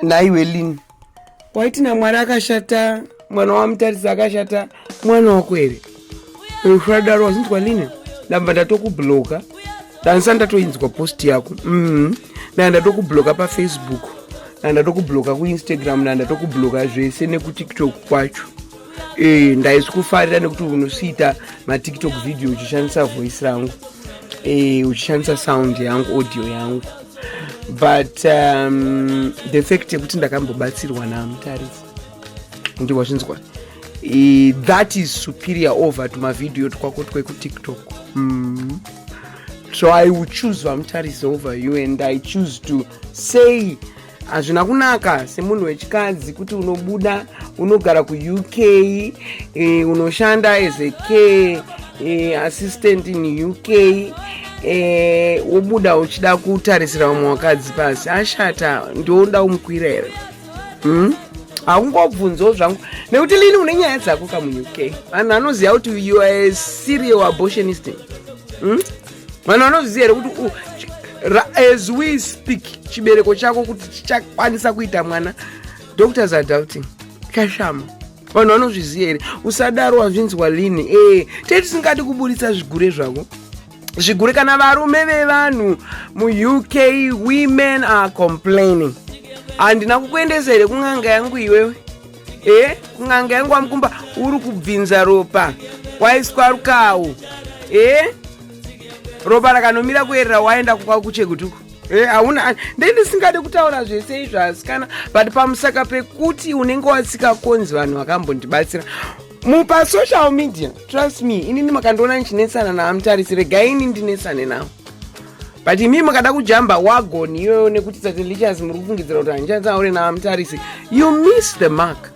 naiwe lin waiti namwari akashata mwana wamutarisi akashata mwana wako here usadaro wasinzwa line ndamba ndatokubloka danisa ndatoinzwa post yako mm-hmm. ndaa ndatokubloka pafacebook ndaa ndatokubloka kuinstagram ndaa ndatokubloka zvese nekutiktok kwacho Eh, ndaisi kufarira nekuti unosiita matiktok video uchishandisa voice rangu eh, uchishandisa sound yangu audio yangu but um, the fact yekuti ndakambobatsirwa namutarifu ndihwa zvinzwa eh, that is superior over to mavideo twako twekutiktok mm. so i will choose vamutarisi over you and i choose to say hazvina kunaka semunhu wechikadzi kuti unobuda unogara kuuk e, eh, unoshanda as a care e, assistant in uk e, eh, wobuda uchida kutarisira vamwe vakadzi pasi ashata ndioda umukwira here hmm? haungobvunzawo zvangu nekuti lini une nyaya dzako kamuuk vanhu vanoziva kuti you are a serial abortionist hmm? vanhu vanozviziva here kuti uh, as we speak chibereko chako kuti chichakwanisa kuita mwana doctors are doubting kashama vanhu vanozviziva here usadaro wazvinzwa lini e eh, tei tisingadi kuburitsa zvigure zvako zvigure kana varume vevanhu muuk women are complaining handina kukuendesa here kun'anga yangu iwewe e n'anga yangu wamukumba uri kubvinza ropa waiswa rukawo e ropa rakanomira kuerera waenda kukwa kuchegutuku e hauna ndei ndisingade kutaura zvese izvo asikana but pamusaka pekuti unenge wasikakonzi vanhu vakambondibatsira mupa social media trust me inini makandiona ndichinetsana na amutarisi regai ini ndinetsane nawo but imi makada kujamba wagon iyoyo nekuti satelichas muri kufungidzira kuti handichanzi aure na amutarisi you miss the mark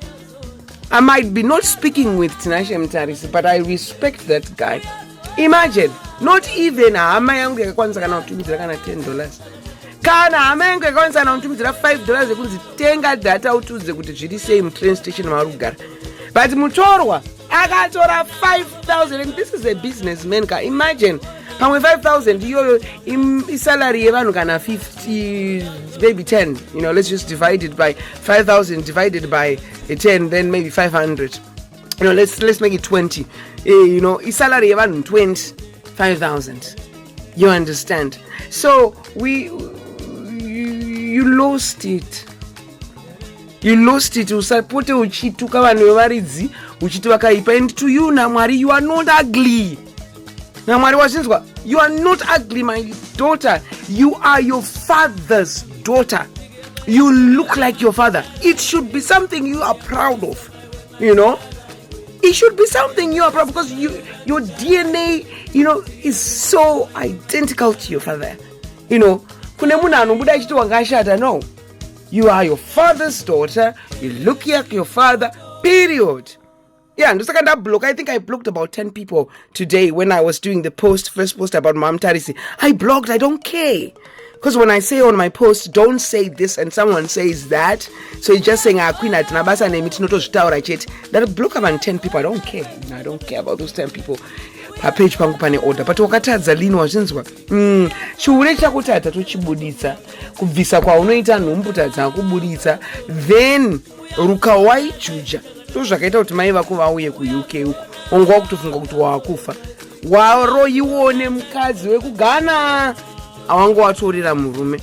i might be not speaking with tinashe mutarisi but i respect that guy imagine not even hama yangu yakakwanisa kana kutumidzira kana 10 dollars kana hama yangu yakakwanisa kana kutumidzira 5 dollars yekunzi tenga data utiudze kuti zviri sei mutrain station maari kugara but mutorwa akatora 5000 and this is a business man ka imagine pamwe 5000 iyoyo isalary yevanhu kana 50 maybe 10 you know let's just divide it by 5000 divided by 10 then maybe 500 you know, let's, let's make it 20 uh, eh, you know isalary yevanhu 20 5000 you understand so we you, you lost it you lost it usapote uchituka vanhu vevaridzi uchiti vakaipa and to you namwari you are not ugly namwari wachinzwa you are not ugly my daughter you are your father's daughter you look like your father it should be something you are proud of you know it should be something new bro because you, your dna you know is so identical to your father you know kune munhu anobuda achiti wanga ashata no you are your father's daughter you look like your father period yeah ndosaka ndablock i think i blocked about 10 people today when i was doing the post first post about mam tarisi i blocked i don't care Because when I say on my post, don't say this and someone says that, so you're just saying, ah, Queen, I don't basa name, it's not a star, I chet. That would block about 10 people. I don't care. I don't care about those 10 people. Pa page pangu pane order but wakatadza lini wazvinzwa mm. chihure chakutadza tochibuditsa kubvisa kwaunoita nhumbu tadza kubuditsa then ruka waijuja ndo zvakaita kuti mai vako vauye kuuk uko wanga wakutofunga kuti waakufa waroyiwo nemukadzi wekugana awanga watorera murume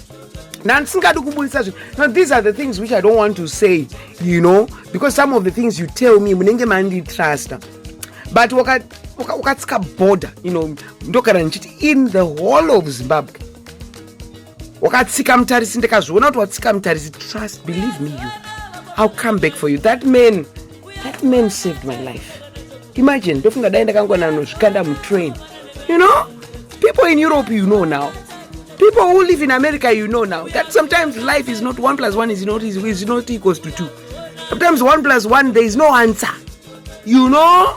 ndandisingadi kubudisa zvinhu no these are the things which i don't want to say you know because some of the things you tell me munenge manditrusta but wakatsika border you know ndogara ndichiti in the whole of zimbabwe wakatsika mutarisi ndikazviona kuti watsika mutarisi trust believe me you ill come back for you that man that man saved my life imagine ndofunga dai ndakangwana nozvikanda mutrain you know people in europe you know now people who live in america you know now that sometimes life is not one plus one is not, is not equals to two sometimes one plus one there is no answer you know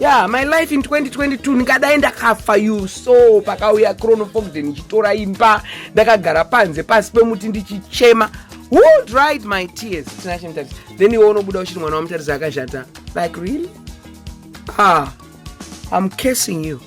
yeah my life in 2022 ndingadai ndakafa you so pakauya chronofogden ndichitora imba ndakagara panze pasi pemuti ndichichema who dried my tears tinashe mutarisi then iwe unobuda uchiri mwana wamutarisi akashata like really ah i'm casing you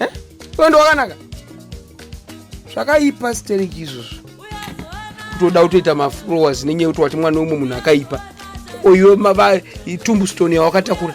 eh? iwe ndo wakanaka zvakaipa stereki izvozvo kutoda kutoita maflowers nenyaya yekuti wati mwana wemwe munhu akaipa oyo tumbustone yawakatakura